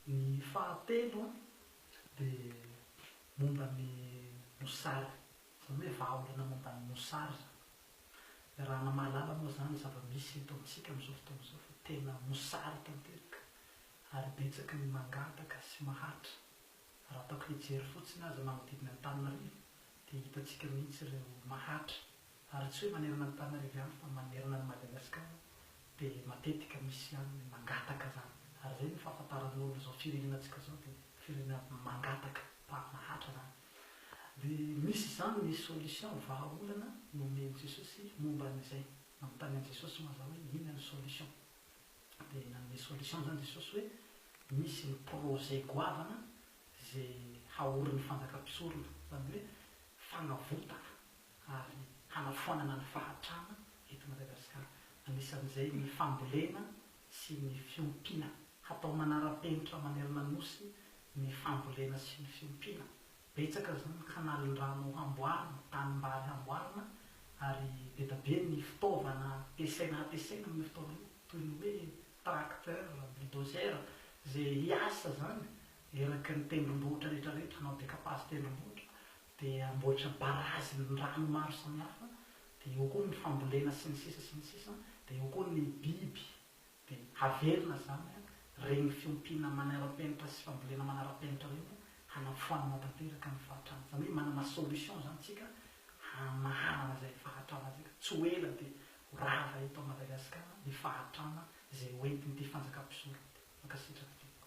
Ny fahatelo dia momba ny mosary, izany hoe vahaolana momba ny mosary izany. Iarahana mahalala moa izany ny zava-misy eto amintsika amin'izao fotoana izao fa tena mosary tanteraka ary betsaka ny mangataka sy mahantra. Raha ataoko fijery fotsiny aza manodidina Antananarivo dia hitantsika mihitsy ireo mahantra Ary tsy hoe manerana an'Antananarivo ihany fa manerana an'i Madagasikara dia matetika misy ihany ny mangataka zany. Ary zay ny fahafantaran'olona zao firenenantsika zao dia firenena mangataka par mahatra zany. Dia misy izany ny solution vahaolana nomen'i Jesosy momba an'izay. Nanontany an'i Jesosy moa za hoe inona ny solution. Dia nanome solution zany Jesosy hoe misy ny projet goavana ze haorin'ny fanjaka mpisorona. Zany hoe fanavotana ary hanafoanana ny fahantrana eto Madagasikara, anisan'izay ny fambolena sy ny fiompiana. Hatao manara-penitra manerana ny Nosy ny fambolena sy ny fiompiana. Betsaka izao ny kanalindrano hamboarina, tanimbary hamboarina ary be da be ny fitaovana ampiasaina hampiasaina amin'io fotoana io, toy ny hoe tracteur, bulldozer, izay hiasa izany eraky ny tendrombohitra rehetra rehetra, hanao décapage tendrombohitra, dia amboatra barazy ny rano maro samihafa, dia eo koa ny fambolena sy ny sisa sy ny sisa, dia eo koa ny biby, dia haverina izany an, reny fiompiana manarapenitra sy fambolena manarapenitra reny hanafoanana tanteraka ny fahatrana, izany hoe manana solution izany tsika hamahanana izay fahatrana tsika, tsy ho ela dia ho rava eto Madagascar ny fahatrana izay ho entin'ity fanjakam-pisorona ity, mankasitraka tompoko.